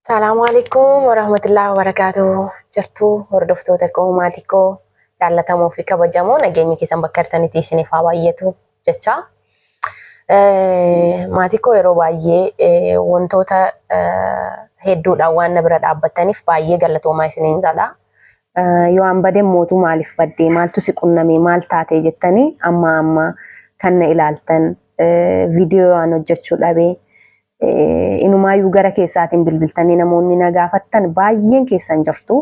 Salaamu alaikum warahmatullahi wabarakatuh. Jirtuu hordoftoota koo maatii koo jaallatamoo fi kabajamoo nageenyi keessan bakka jirtanitti isiniif haa baay'atu jecha. Eh, Maatii koo yeroo baay'ee eh, wantoota eh, hedduudhaan waan na bira dhaabbattaniif baay'ee galatoomaa isiniin jedha. Eh, Yoo an bade mootu maaliif baddee maaltu si qunnamee maal taatee jettanii amma amma kan na ilaaltan eh, viidiyoo waan hojjechuu dhabee Inumaayyuu gara keessaatiin bilbiltanii namoonni na gaafattan baay'een keessan jirtu.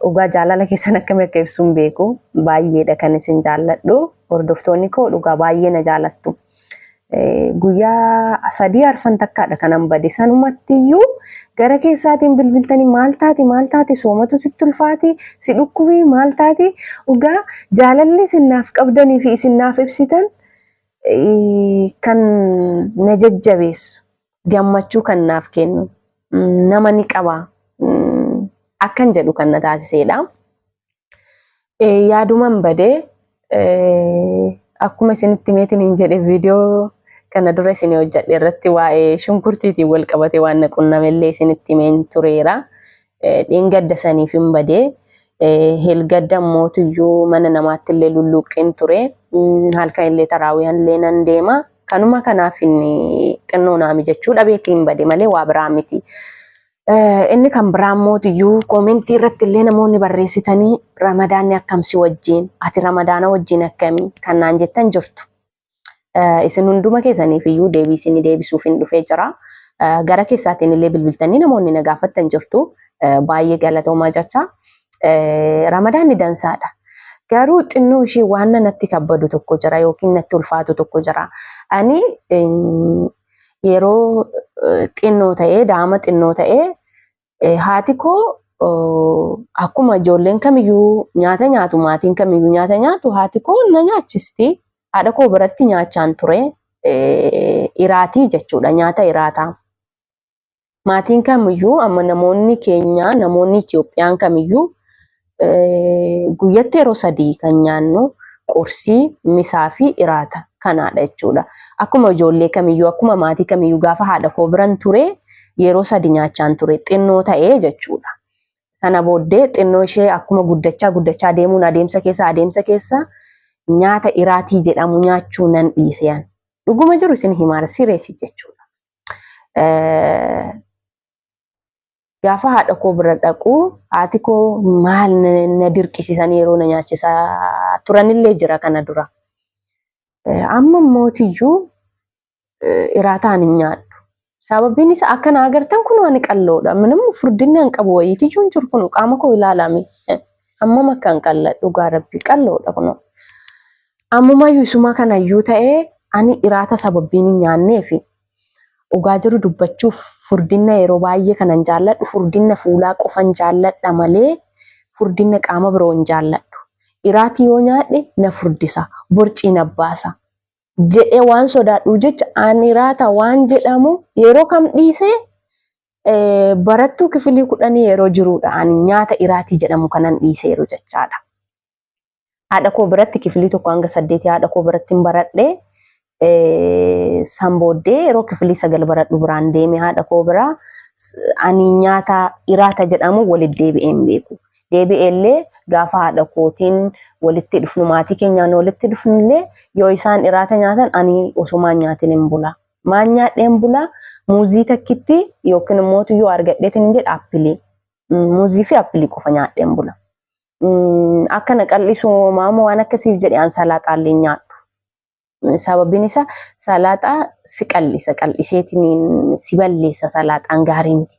Dhugaa jaalala keessan akkamitti akka ibsu hin beeku. Baay'eedha kan isin jaalladhu. Hordoftoonni koo dhugaa baay'ee na jaallattu. Guyyaa sadii arfan takkaadha kanan bade. Sanumatti iyyuu gara keessaatiin bilbiltanii maal taati maal taati soomatu sitti ulfaati si dhukkubii maal taati dhugaa jaalalli isin naaf qabdanii fi isin naaf ibsitan kan na jajjabeessu gammachuu kan naaf kennu nama ni qaba akkan jedhu kan na taasiseedha. Yaaduman bade akkuma isinitti meetiin hin jedhe viidiyoo kana dura isin hojjedhe irratti waa'ee shunkurtiitiin wal qabate waan na qunnamellee isinitti himeen tureera. Dheengadda saniif hin bade. Helgadda mootuyyuu mana namaatti illee lulluuqqeen ture. Halkan illee taraawiyan illee nan deema. Kanuma kanaaf inni xinnoo naa mijachuu dhabeetti hin bade malee waa biraa miti. Inni kan biraa mootuyyuu koomentii irratti illee namoonni barreessitanii ramadaanni akkamsi wajjin ati ramadaana wajjin akkamii kan naan jettan jirtu. Isin hunduma keessaniif iyyuu deebii isin deebisuuf hin dhufee jira. Gara keessaatiin illee bilbiltanii namoonni na gaafattan jirtu. Baay'ee galatoomaa jecha. Ramadaanni dansaadha. Garuu xinnoo ishee waan natti kabbadu tokko jira yookiin natti ulfaatu tokko jira. Ani yeroo xinnoo ta'ee daa'ima xinnoo ta'ee Eh, Haati koo oh, akkuma ijoolleen kamiyyuu nyaata nyaatu maatiin kamiyyuu nyaata nyaatu haati koo na nyaachisti. Haadha koo biratti nyaachaan ture eh, iraatii jechuudha nyaata iraataa. Maatiin kamiyyuu amma namoonni keenya namoonni Itoophiyaan kamiyyuu guyyatti yeroo sadii kan nyaannu qursii, misaa fi iraata kanaadha jechuudha. Akkuma ijoollee kamiyyuu akkuma maatii kamiyyuu gaafa haadha koo biran ture yeroo sadi nyaachaan ture xinnoo ta'ee jechuudha. Sana booddee xinnoo ishee akkuma guddachaa guddachaa deemuun adeemsa keessa adeemsa keessa nyaata iraatii jedhamu nyaachuu nan dhiisean. Dhuguma jiru isin himaara sireesi jechuudha. gaafa haadha koo bira dhaqu haati koo maal na dirqisiisan yeroo na nyaachisaa turanillee jira kana dura. Amma mootiyyuu iraataan hin nyaadhu. Sababiin isaa akka na agartan kun ani qalloodha. Minimum furdinni an qabu wayiitiyyuu hin jiru kun qaama koo ilaalame. Hammam akka hin qalla dhugaa rabbi qalloodha kun. Ammumayyuu isuma kanayyuu ta'ee ani iraata sababiin hin nyaanneefi Dhugaa jiru dubbachuuf furdinna yeroo baay'ee kanan jaalladhu furdinna fuulaa qofan jaalladha malee furdinna qaama biroo hin jaalladhu. Iraatii yoo nyaadhe na furdisa, borcii na baasa jedhee waan sodaadhuuf jecha an iraata waan jedhamu yeroo kam dhiise barattuu kifilii kudhanii yeroo jiruudha ani nyaata iraatii jedhamu kanan dhiiseeru jechaadha. Haadha koo biratti kifilii tokko hanga saddeetii haadha koo biratti hin baradhe. San booddee yeroo kifilii sagal baradhu biraan deeme haadha koo biraa ani nyaata iraata jedhamu walitti deebi'ee hin beeku. Deebi'ee illee gaafa haadha kootiin walitti dhufnu maatii keenyaan walitti dhufnu illee yoo isaan iraata nyaatan ani osumaan nyaatiin hin bula. Maan nyaadhee hin bula muuzii takkitti yookiin immoo yoo argadheetiin hin jedha appilii. Muuzii fi appilii qofa nyaadhee hin bula. mm, akka na qal'isu maamu waan akkasiif jedhe an salaaxaa illee hin nyaadhu. Mm, Sababiin isaa salaaxaa si qal'isa qal'iseetiin si balleessa salaaxaan gaarii miti.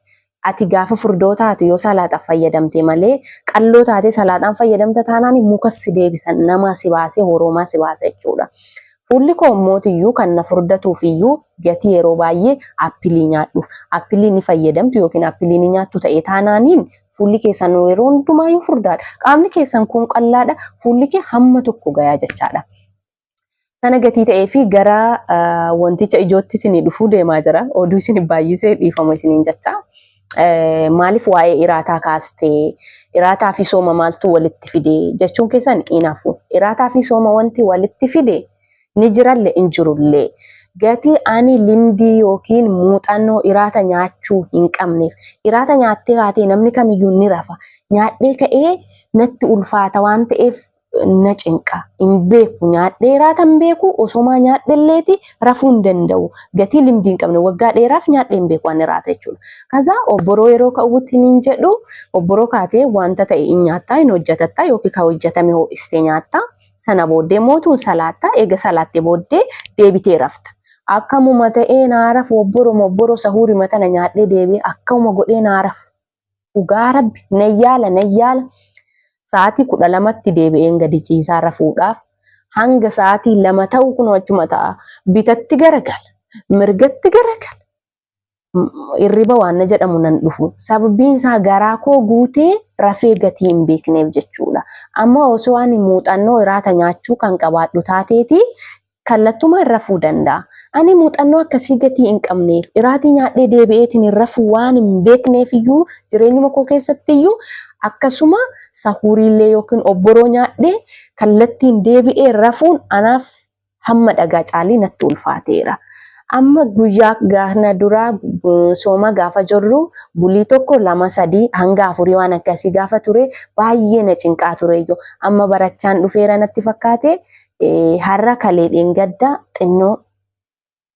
Ati gaafa furdoo taate yoo salaaxaaf fayyadamte malee qalloo taate salaaxaan fayyadamta taanaan mukas si deebisan namaa si baasee horoomaa si baasa jechuudha. Fuulli koo immootiyyuu kan na furdatuufiyyuu gatii yeroo baay'ee appilii nyaadhuuf. Appilii ni fayyadamtu yookiin appilii ni nyaattu ta'e taanaaniin fuulli keessan yeroo hundumaayyuu furdaadha. Qaamni keessan kun qallaadha. Fuulli kee hamma tokko gayaa jechaadha. Sana gatii ta'ee fi gara wanticha ijootti isinii dhufuu deemaa jira. Oduu isin baay'isee dhiifama isiniin jechaa. eh, maaliif waa'ee iraataa kaastee iraataa fi sooma maaltu walitti fide jechuun keessan inaafu iraataa fi sooma wanti walitti fide ni jiralle in jirullee gatii ani limdii yookiin muuxannoo iraata nyaachuu hin qabneef iraata nyaattee kaatee namni kamiyyuu ni rafa nyaadhee ka'ee natti ulfaata waan ta'eef na cinqa hin beeku nyaadheeraa tan beeku osomaa nyaadhelleeti rafuu hin danda'u gatii limdii hin qabne waggaa dheeraaf nyaadhee hin beeku ani raata jechuudha. Kazaa obboroo yeroo ka'uutti niin jedhu obboroo kaatee wanta ta'e hin nyaattaa hin hojjatattaa yookiin kan hojjatame ho'istee nyaattaa sana booddee mootuun salaattaa eega salaattee booddee deebitee rafta. Akkamuma ta'ee naa rafu obboroma obboroo sahuurima tana nyaadhee deebi'ee akkamuma godhee naa rafu Dhugaa rabbi nan yaala nan yaala sa'aatii kudha lamatti deebi'een gadi ciisaa rafuudhaaf hanga sa'aatii lama ta'u kunoo achuma ta'a. Bitatti garagala, mirgatti garagala. Irriba waan na jedhamu nan dhufu. Sababiin isaa garaa koo guutee rafee gatii hin beekneef jechuudha. Amma osoo ani muuxannoo iraata nyaachuu kan qabaadhu taateeti kallattumaan rafuu danda'a. Ani muuxannoo akkasii gatii hin qabne iraatii nyaadhee deebi'eetiin hin rafuu waan hin beekneef iyyuu jireenyuma koo keessatti iyyuu akkasuma sahuuriillee yookiin obboroo nyaadhee kallattiin deebi'ee rafuun anaaf hamma dhagaa caalii natti ulfaateera. Amma guyyaa gaana duraa sooma gaafa jirru bulii tokko lama sadii hanga afurii waan akkasii gaafa ture baay'ee na cinqaa tureyyuu amma barachaan dhufeera natti fakkaate har'a kalee dheengaddaa xinnoo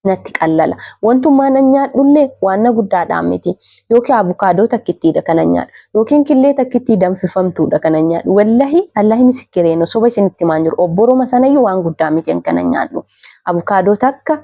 natti qallala. Wantummaa nan nyaadhullee waan na guddaadhaan miti. Yookiin abukaadoo takkittiidha kana nyaadhu. Yookiin killee takkittii danfifamtuudha kana nyaadhu. Wallahi Allahi misikkireeno soba isinitti himaan jiru. Obboroma sanayyuu waan guddaa miti kana nyaadhu. Abukaadoo takka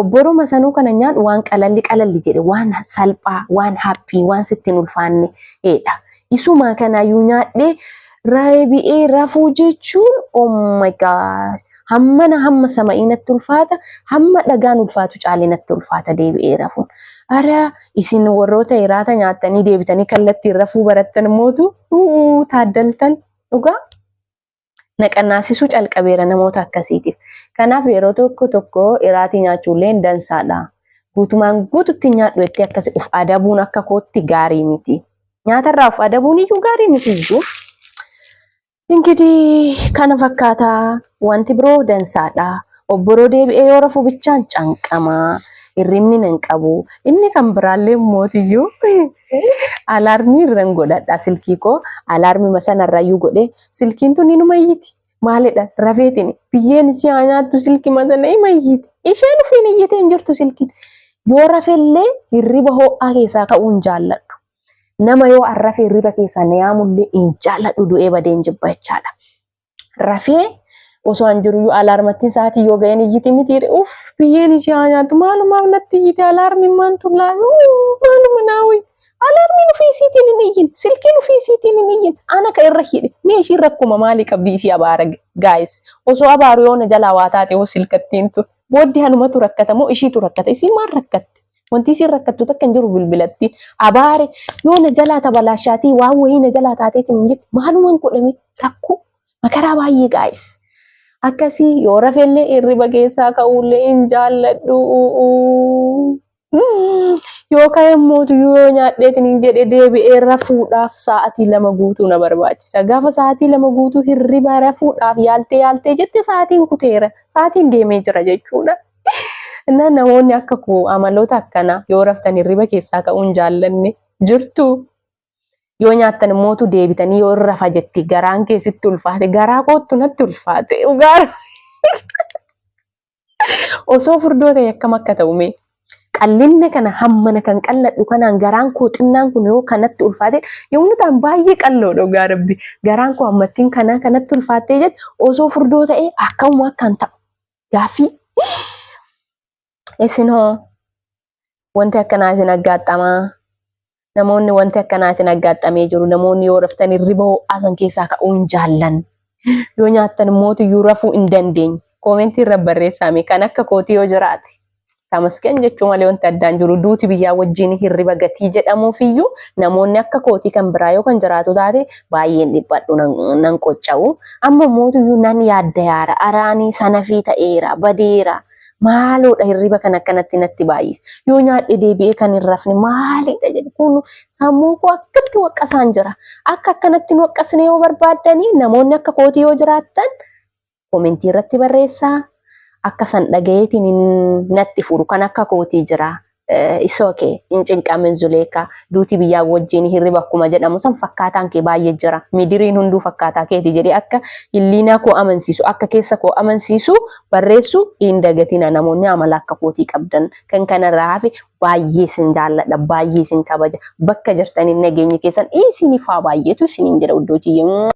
obboruma sanuu kana nyaadhu waan qalalli qalalli jedhe waan salphaa waan haphii waan sitti hin ulfaanne dha. Isumaa kanaayyuu nyaadhee raabi'ee rafuu jechuun oh my god hammana hamma sama'ii natti ulfaata hamma dhagaan ulfaatu caalee natti ulfaata deebi'ee rafuun. Ara isin warroota hiraata nyaattanii deebitanii kallattiin rafuu barattan mootu taaddaltan dhugaa. naqannaasisuu calqabeera namoota akkasiitiif. Kanaaf yeroo tokko tokko iraatii nyaachuulleen dansaadha. Guutumaan guututti nyaadhu jettee akkasi of adabuun akka kootti gaarii miti. Nyaatarraa of adabuun iyyuu gaarii miti iyyuu. Ingidiih kana fakkaataa wanti biroo dansaadha. Obboroo deebi'ee yoo rafu bichaan canqamaa. Hirribni nan qabu. Inni kan biraallee mootiyyuu alaarmii irran godhadha silkii koo alaarmii masanarrayyuu godhee silkiin tun inuma iyyiti maalidha rafeetiin biyyeen ishee haa nyaattu silki matana ima iyyiti isheen ofiin iyyitee hin jirtu silkiin yoo rafellee hirriba ho'aa keessaa ka'uu hin jaalladhu nama yoo arrafe hirriba keessaa na yaamullee hin jaalladhu du'ee badee hin jibba jechaadha rafee osoo an jiruyyuu alaarmattiin sa'aatii yoo ga'een iyyiti miti uff biyyeen ishee haa nyaattu maalumaaf natti iyyite alaarmiin maan tullaa maaluma naawwi Alarmiin ofii isiitiin hin iyyin. Silkiin ofii isiitiin hin iyyin. Ana ka irra hidhe. Mee ishiin rakkuma maalii qabdi isii abaara gaayis. Osoo abaaru yoo na jalaa waa taate hoo silkattiin tun. Booddee anumatu rakkata moo ishiitu rakkata? Isii maal rakkatte? Wanti isiin rakkattu takka hin jiru bilbilattiin. Abaare yoo na jalaa tabalaashaatii waan wayii na jalaa taateetiin hin jette maalumaan godhame rakkoo makaraa baay'ee gaayis. Akkasii yoo rafellee hirriba keessaa ka'uullee hin jaalladhu. Mm, Yoo ka'e immoo tuyyuu yoo nyaadheetiin hin jedhe deebi'ee rafuudhaaf sa'aatii lama guutuu na barbaachisa. Gaafa sa'aatii lama guutuu hirriba rafuudhaaf yaaltee yaaltee jette sa'aatiin kuteera. Sa'aatiin deemee jira jechuudha. Innaa namoonni akka koo amaloota akkanaa yoo raftan hirriba keessaa ka'uu hin jaallanne jirtu. Yoo nyaattan immoo tu deebitanii yoo hin rafa jetti garaan kee sitti ulfaate garaa koottu natti ulfaate dhugaa. Osoo furdoo ta'e akkam akka ta'u mee. Qallinna kana hammana kan qalladhu kanaan garaan koo xinnaan kun yoo kanatti ulfaate yommuu ta'an baay'ee qalloo dhugaa rabbi garaan koo hammattiin kanaa kanatti ulfaattee jette osoo furdoo ta'e akkamuma akkan ta'u gaaffii isin hoo wanti akkanaa isin aggaaxxamaa namoonni wanti akkanaa isin aggaaxxamee jiru namoonni yoo raftan hirriba ho'aasan keessaa ka'uu hin jaallan yoo nyaattan immoo iyyuu rafuu hin dandeenye koomentii irra barreessaame kan akka kootii yoo jiraate tamasken jechuu malee wanti addaan jiru duuti biyyaa wajjin hirriba gatii jedhamuuf iyyuu namoonni akka kootii kan biraa yoo kan jiraatu taate baay'een dhiphadhu nan qocca'u amma mootu iyyuu nan yaadda yaara araanii sanafii ta'eera badeera Maaloodha hirriba kan akkanatti natti baay'ise. Yoo nyaadhe deebi'ee kan hin rafne maalidha jedhe kun sammuu koo akkatti waqqasaan jira. Akka akkanatti hin waqqasne yoo barbaaddanii namoonni akka kootii yoo jiraattan komentii irratti barreessaa. Akka san dhagayeetiin natti furu kan akka kootii jira. It's okay. Hin cinqamin Zuleekaa. Duuti biyyaa wajjin hirriba akkuma jedhamu san fakkaataan kee baay'ee jira. Midiriin hunduu fakkaataa keeti jedhee akka hilliinaa koo amansiisu, akka keessa koo amansiisu barreessu hin dagatina namoonni amala akka kootii qabdan. Kan kanarraa hafe baay'ee isin jaalladha, baay'ee isin kabaja. Bakka jirtaniin nageenyi keessan isinif haa baay'eetu isiniin jedha uddootiyyee.